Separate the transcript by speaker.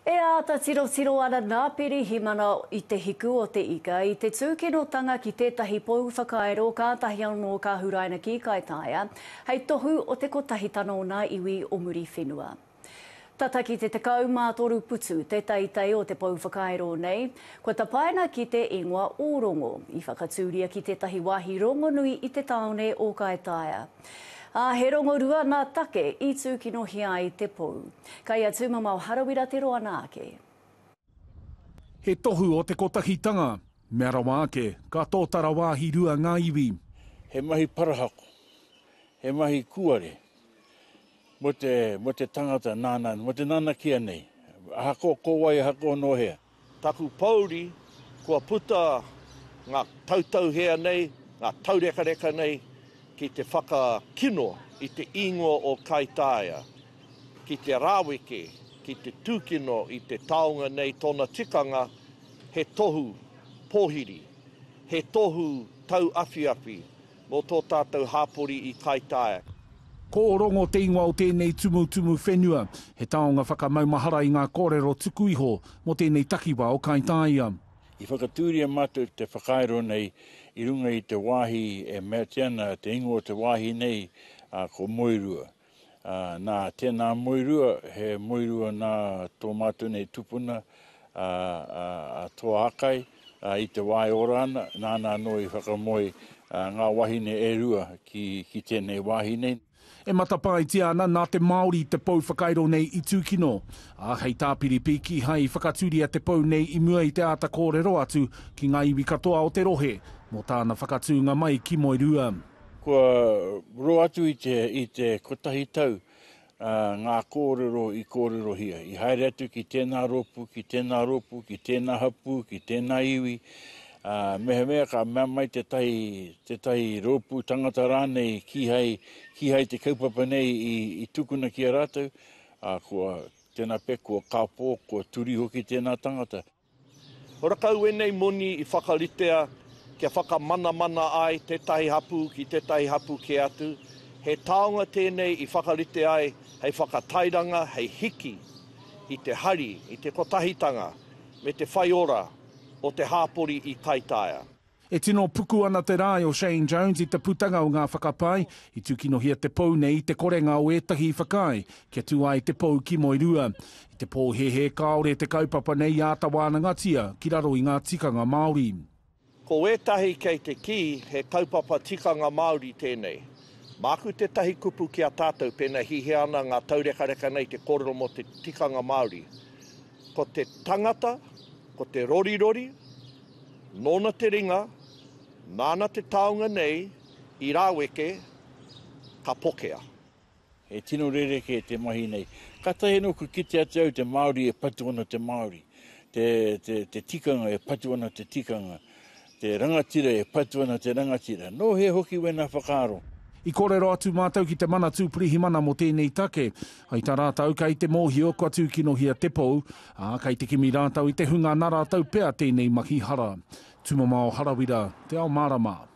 Speaker 1: E āta tirotiro ana nā Pirihimana i Te Hiku o te Ika i te tūkinotanga ki tētahi pou whakairo kātahi anō ka huraina ki Kaitaia hei tohu o te kotahitanga o ngā iwi o Muriwhenua. Tata ki te 13 putu te teitei o te pou whakairo nei, kua tapaina ki te ingoa o Rongo, i whakatūria ki tētahi wāhi rongonui i te tāone o Kaitaia. Ā, he rongorua nā Take i tūkinohia ai te pou. Kai a Tūmamao Harawira te roa nā ake.
Speaker 2: He tohu o te kotahitanga. Mea rawa ake, ka tōtara wāhi rua ngā iwi. He mahi
Speaker 3: parahako, he mahi kūare mō te tangata nāna, mō te nanakia nei, ahakoa ko wai, ahakoa nō hea. Taku pouri,
Speaker 4: kua puta nga tautauhea nei, nga taurekareka nei ki te whakakino i te ingoa o Kaitaia, ki te raweke, ki te tukino i te taonga nei tona tikanga he tohu pohiri, he tohu tauawhiawhi, Nō tō tātou hāpori i kaitaia. Ko Ōrongo
Speaker 2: te ingoa o tēnei tumutumu whenua. He taonga whakamaumahara i ngā kōrero tuku iho mō tēnei takiwā o Kaitaia. I whakatūria
Speaker 3: mātou te whakairo nei i runga i te wāhi e meatia ana te ingoa o te wāhi nei, ā, ko Moerua. Nā, tēnā moerua, he moerua nā tō mātou nei tupuna a Toa Akai, i te wā e ora ana, nāna anō i whakamoe ngā wahine e rua ki tēnei wāhi nei. E matapaetia
Speaker 2: ana nā te Māori te pou whakairo nei i tūkino, ā, hei tāpiripī kīhai i whakatūria te pou nei i mua i te āta kōrero atu ki ngā iwi katoa o te rohe mō tāna whakatūnga mai ki Moerua. Kua
Speaker 3: roa atu i te, i te kotahi tau ngā kōrero i kōrerohia, i haere atu ki tēnā rōpū, ki tēnā rōpū, ki tēnā hapū, ki tēnā iwi, mehemea ka mea mai tētahi, tētahi rōpū tangata rānei kīhai, kīhai te kaupapa nei i, i tukuna ki a rātou, kua tēnā pea, kua kāpō, kua turi hoki tēnā tangata. Ora
Speaker 4: kau enei moni i whakaritea kia whakamanamana ai tetahi hapu ki tetahi hapu ke atu, he taonga tenei i whakarite ai hei whakatairanga hei hiki i te hari, i te kotahitanga me te whaiora o te hapori i Kaitaia. E tino
Speaker 2: puku ana te rae o Shane Jones i te putanga o ngā whakapae i tūkinohia te pou nei i te korenga o ētahi i whakaae kia tū ai te pou ki Moerua. I te pōhēhē kāore te kaupapa nei i āta wānangatia ki raro i ngā tikanga Māori. Ko wētahi
Speaker 4: kei te kī he kaupapa tikanga Māori tēnei. Māku tētahi kupu ki a tātou pēnā hihia ana ngā taurekareka nei te kōrero mō te tikanga Māori. Ko te tangata, ko te rorirori, nōna te ringa, nāna te taonga nei i rāweke, ka pokea. He
Speaker 3: tino rerekē te mahi nei. Katahi anō kua kite atu au te Māori e patu ana te Māori, te tikanga e patu ana te tikanga. Te rangatira e patu ana te rangatira. Nō hea hoki wēnā whakaaro? I kōrero atu
Speaker 2: mātou ki te Manatū Pirihimana mō tēnei take. I tā rātou, kei te mōhio kua tūkinohia te pou, ā, kei te kimi rātou i te hunga nā rātou pea tēnei mahi hara. Tumamao Harawira, Te Ao Mārama.